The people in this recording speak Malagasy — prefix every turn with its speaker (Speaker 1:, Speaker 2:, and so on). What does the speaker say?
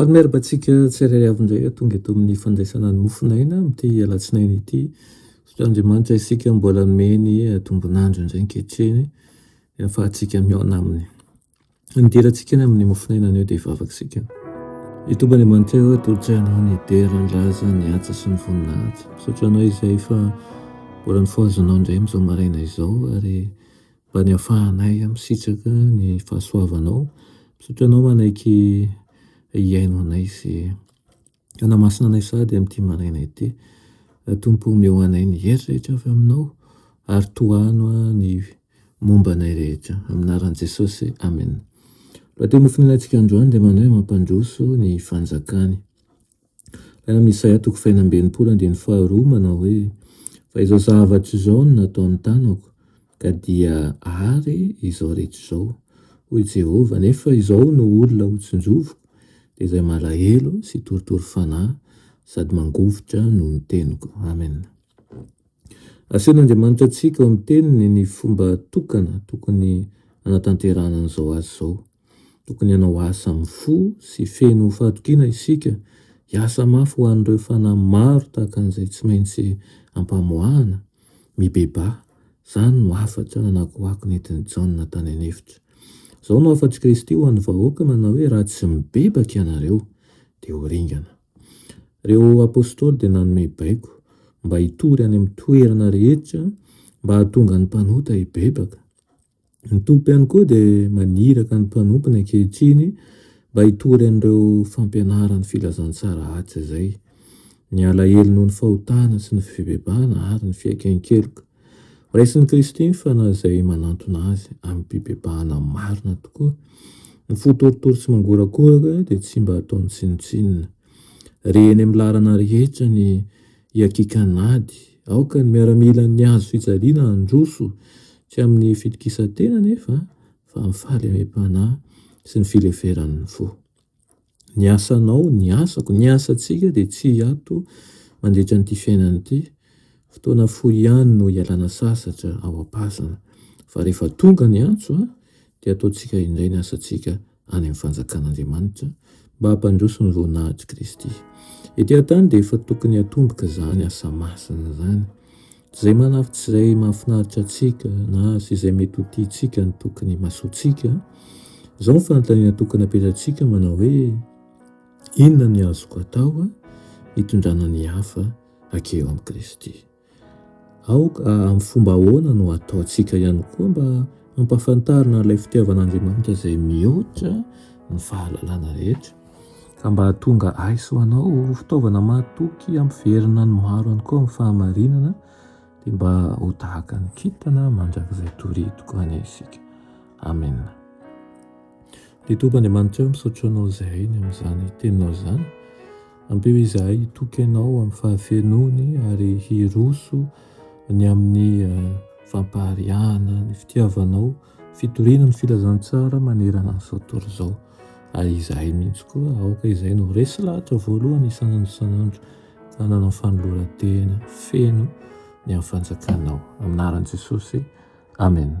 Speaker 1: Ary miarba antsika tsirairay avy indray tonga eto amin'ny fandraisana ny mofon'aina amin'ity alatsinainy ity. Misaotra Andriamanitra isika mbola nomeny tombon'andro indray ankehitriny ahafahantsika mihaona aminy. Ny dirantsika ny amin'ny mofon'aina anio dia vavaka isika. Ny tomba Andriamanitra eo atolotra anao ny dera, ny laza, ny asa sy ny voninahitra. Misaotra anao izay fa mbola nifohazanao indray amin'izao maraina izao ary Mba ny afahanay misitraka ny fahasoavanao. Misaotra anao manaiky hihaino anay sy hanamasina anay sahady amin'ity maraina ity. Tompo omeo anay ny hery rehetra avy aminao ary tohano ny momba anay rehetra. Amin'ny anaran'i Jesosy, amena. Lohateny nofoninantsika androany dia manao hoe mampandroso ny fanjakany. Raha amin'ny Isaia toko fahenina amby enimpolo andininy faharoa manao hoe, Fa izao zavatra izao no nataon'ny tanako, ka dia àry izao rehetra izao, hoy Jehovah, nefa izao no olona hotsinjoviko, dia izay malahelo sy torotoro fanahy sady mangovitra noho ny teniko. Amen. Asehon'Andriamanitra antsika ao amin'ny Teniny ny fomba tokana tokony hanatanterahana an'izao asa izao. Tokony hanao asa amin'ny fo sy feno fahatokiana isika, hiasa mafy ho an'ireo fanahy maro tahaka an'izay tsy maintsy ampamoahana, mibebaha. Izany no hafatra nanakoako nentin'i Jaona tany an'efitra. Izao no hafatr'i Kristy ho an'ny vahoaka manao hoe, Raha tsy mibebaka ianareo, dia ho ringana. Ireo apostoly dia nanome baiko mba hitory any amin'ny toerana rehetra mba hahatonga ny mpanota hibebaka. Ny Tompo ihany koa dia maniraka ny mpanompony ankehitriny mba hitory an'ireo fampianaran'ny filazantsara haja izay. Ny alahelo noho ny fahotana sy ny fibebahana ary ny fiaiken-keloka. Raisin'i Kristy ny fanahy izay manantona azy amin'ny fibebahana marina tokoa. Ny fo torotoro sy mangorakoraka dia tsy mba ataony tsinontsinona. Re eny amin'ny laharana rehetra ny hiakiaka an'ady. Aoka ny miaramilan'ny hazo fijaliana handroso, tsy amin'ny fitokisan-tena anefa, fa amin'ny fahalemem-panahy sy ny fileferan'ny fo. Ny asanao, ny asako, ny asantsika dia tsy hiato mandritra an'ity fiainana ity. Fotoana fohy ihany no hialana sasatra ao am-pasana, fa rehefa tonga ny antso dia ataontsika indray ny asantsika any amin'ny fanjakan'Andriamanitra mba hampandroso ny voninahitry Kristy. Ety an-tany dia efa tokony hatomboka izany asa masina izany. Izay manafitra izay mahafinaritra antsika na sy izay mety ho tiantsika no tokony himasoantsika. Izao ny fanontaniana tokony apetratsika manao hoe inona ny azoko atao hitondrana ny hafa hakeo amin'i Kristy. Aoka amin'ny fomba ahoana no ataontsika ihany koa mba hampahafantarina an'ilay fitiavan'Andriamanitra izay mihoatra ny fahalalana rehetra, ka mba hahatonga ahy sy ho anao ho fitaovana mahatoky hampiverina ny maro ihany koa amin'ny fahamarinana, dia mba ho tahaka ny kintana mandrakizay toritiko any isika. Amena. Ry Tompo Andriamanitra ô, misaotra Anao izahay ny amin'izany teninao izany. Ampio izahay hitoky Anao amin'ny fahafenoany ary hiroso ny amin'ny eh, fampahariahana, ny fitiavanao, fitoriana ny filazantsara manerana an'izao tontolo izao. Ary izahay mihitsy koa aoka izahay no resy lahatra voalohany isan'andro isan'andro fa nanao fanoloran-tena feno ny amin'ny fanjakanao. Amin'ny anaran'i Jesosy, Amen.